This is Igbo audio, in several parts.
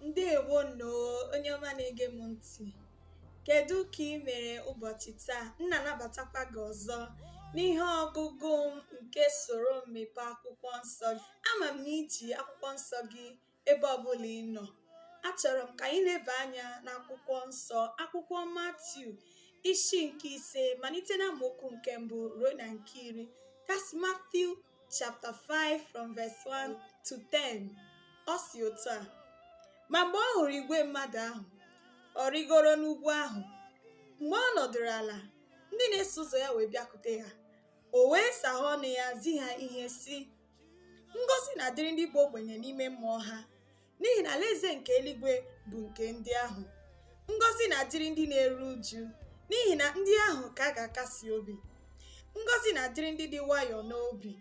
ndewo nnọọ onye ọma na-ege m ntị kedu ka ị mere ụbọchị taa m na-anabatakwa gị ọzọ n'ihe ọgụgụ m nke soro mmepe akwụkwọ nsọ gị ama m na i ji akwụkwọ nsọ gị ebe ọbụla ị nọ achọrọ m ka anyị leba anya n'akwụkwọ nsọ akwụkwọ matiu isi nke ise malite na amaokwu nke mbụ ruo na nke iri that's Matthew chapter 5 from verse 1 to 10 ọ sị otu a ma mgbe ọ hụrụ igwe mmadụ ahụ ọ rịgoro n'ugwu ahụ mgbe ọ nọdụrụ ala ndị na-eso ụzọ ya wee bịakute ya o wee saghe ọnụ ya zi ha ihe sị ngọzi na-adịrị ndị bụ ogbenye n'ime mmụọ ha n'ihi na alaeze nke eluigwe bụ nke ndị ahụ ngọzi na-adịrị ndị na-eru uju n'ihi na ndị ahụ ka a ga-akasi obi ngọzi na-adịrị ndị dị nwayọọ n'obi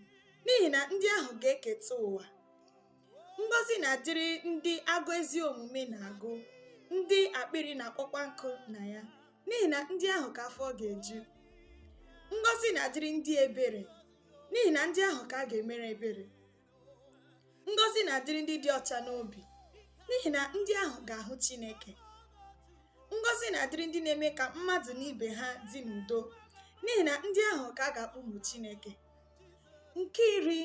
n'ihi na ndị ahụ ga-eketa ụwa ngọzi na-adịrị ndị agụụ ezi omume na-agụ ndị akpịrị na-akpọkwa nkụ na ya n'ihi na ndị ahụ ka afọ ga-eju ngọzi na-adịrị ndị ebere n'ihi na ndị ahụ ka a ga-emere ebere ngọzi na-adịrị ndị dị ọcha n'obi n'ihi na ndị ahụ ga-ahụ Chineke ngọzi na-adịrị ndị na-eme ka mmadụ na ibe ha dị n'udo n'ihi na ndị ahụ ka a ga-akpọ ụmụ Chineke nke iri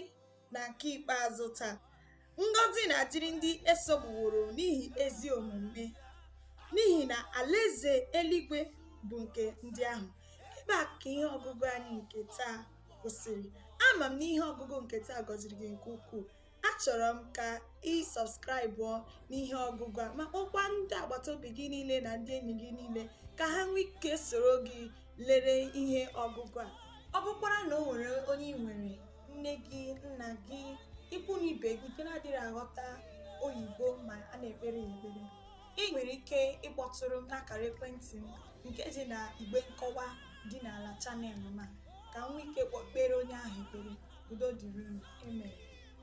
na nke ikpeazụ taa Ngọzi na-adịrị ndị e sogbuworo n'ihi ezi omume, n'ihi na alaeze eluigwe bụ nke ndị ahụ. Ebe a ka ihe ọgụgụ anyị nke taa kwụsịrị. Ama m na ihe ọgụgụ nke taa gọziri gị nke ukwuu. Achọrọ m ka ị sọbskraịbụọ n'ihe ọgụgụ a ma kpọkwa ndị agbata obi gị niile na ndị enyi gị niile ka ha nwee ike soro gị lere ihe ọgụgụ a. Ọ bụkwara na o nwere onye ị nwere nne gị nna gị ikwu na ibe gị nke na-adịghị aghọta oyibo ma a na-ekpere ya ekpere ị nwere ike ịkpọtụrụ m n'akara ekwentị m nke dị na igbe nkọwa dị n'ala channel m a ka m nwee ike kpọọ kpeere onye ahụ ekpere udo dịrị unu amen